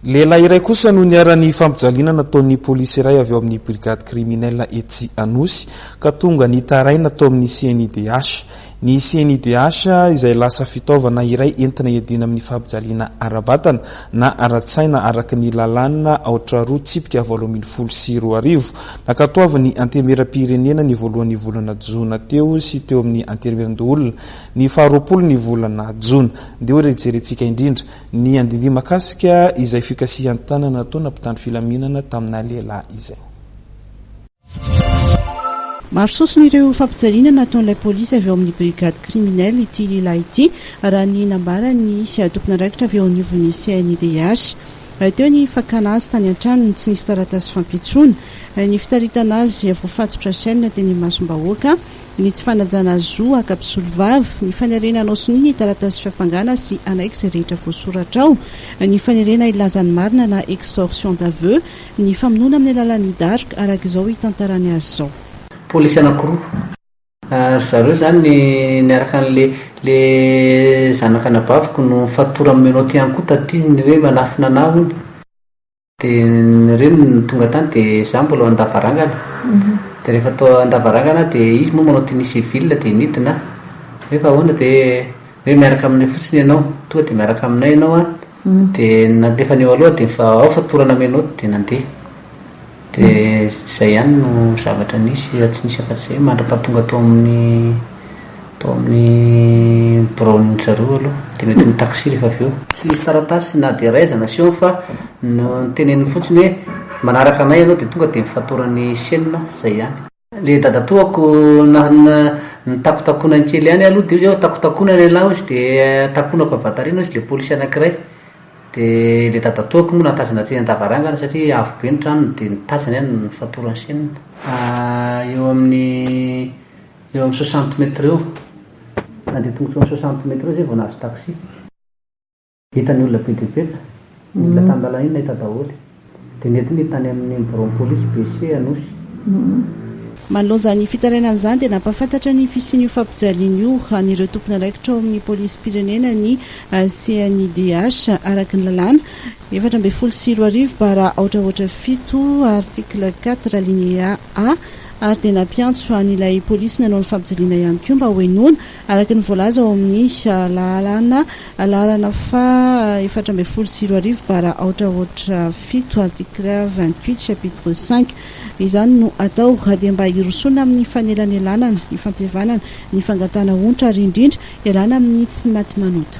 Lehilahy iray kosa no niharan'ny fampijaliana nataon'ny polisy iray avy ao amin'ny brigade criminelle etsy Anosy ka tonga nitaraina tao amin'ny CNIDH. Ny CNIDH izay lasa fitaovana iray entina hiadiana amin'ny fampijaliana ara-batana na ara-tsaina araka ny lalàna aotra roa tsipika valo ambin'ny folo sy roa arivo nankatoavin'ny Antenimieram-pirenena ny voalohan'ny volana jona teo sy teo amin'ny Antenimieran-doholona Ny faharoapolo ny volana jona dia hoe re jerentsika indrindra ny andindihy makasika izay fikasihan-tanana nataona mpitandro filaminana tamina lehilahy izay. Maro sosona ireo fampijaliana nataon'ilay polisy avy ao amin'ny brigade criminelle ity lehilahy ity raha ny nambaran'ny tompon'andraikitra avy eo anivon'ny CNIDH. Teo ny fakana azy tany an-tranony tsy nisy taratasy fampitsoana, ny fitaritana azy voafatotra chaine teny imasom-bahoaka, ny tsy fanajana zo haka mpisolovava, ny fanerena hanao sonia ny taratasy fiampangana sy hanaiky izay rehetra voasoratra ao, ny fanerena hilaza ny marina na extorsion d'aveux, ny famonoana amin'ny alalan'ny daroka, araka izao hitantarany azy izao. Polisy anankiroa, ry zareo izany niaraka an'le le zanak'anabaviko no nifatorany menottes ihany koa taty ny hoe manafina anah hono. Dia ny reniny no tonga tany dia izaho mbola ao an-davarangana, dia rehefa tao an-davarangana aho dia izy moa manao tenue civile dia nidina aho, hoe fa ahoana dia hoe hoe miaraka aminay fotsiny ianao, tonga dia miaraka aminay ianao an, dia nandefany eo aloha aho dia fa ao fatorana menottes dia nandeha, dia izay ihany no zavatra nisy fa tsy nisy afa-tsy izay mandra-pahatonga tao amin'ny. Tao amin'ny biraon'dry zareo aloha dia mety mitaxi rehefa avy eo. Tsy nisy taratasy na dia iray aza nasehony fa noteneniny fotsiny hoe manaraka anay ianao dia tonga dia mifatoran'ny chaine, izay ihany. Ilay dadatoako nitakotakonany kely ihany aloha dia hoy izy hoe takotakona ny anao hoy izy dia takonako avy aty aoriana hoy izy ilay polisy anankiray dia ilay dadatoako moa nahatazana aty an-davarangana satria avo be ny tranony dia nitazana ihany ny fatoran'ny chaine. Eo amin'ny. Eo amin'ny soixante mètres eo. Nandeha tongotra eo amin'ny soixante mètres eo zay vao nahazo taxi. Hita ny olona be dia be ka. Ny olona tan-dalana iny nahita daholo. Dia nentiny tany amin'ny biraon'ny polisy BC Anosy. Manoloana izany fitarainana izany dia nampahafantatra ny fisian'io fampijaliana io an'ireo tompon'andraikitra ao amin'ny polisim-pirenena ny CNIDH araka ny lalàna efatra ambin'ny folo sy roa arivo bara aotra aotra fito article quatre alinéa A, ary dia nampiantso an' ilay polisy nanao ny fampijaliana ihany koa mba hohenoina, araka ny voalaza ao amin' ny lalàna laharana faha efatra ambin'ny folo sy roa arivo bara aotra aotra fito, article vingt-huit, chapitre cinq. Izany no atao raha dia mba hirosoana amin' ny fanelanelanana, ny fampihavanana, ny fangatahana onitra ary indrindra hialana amin' ny tsy maty manota.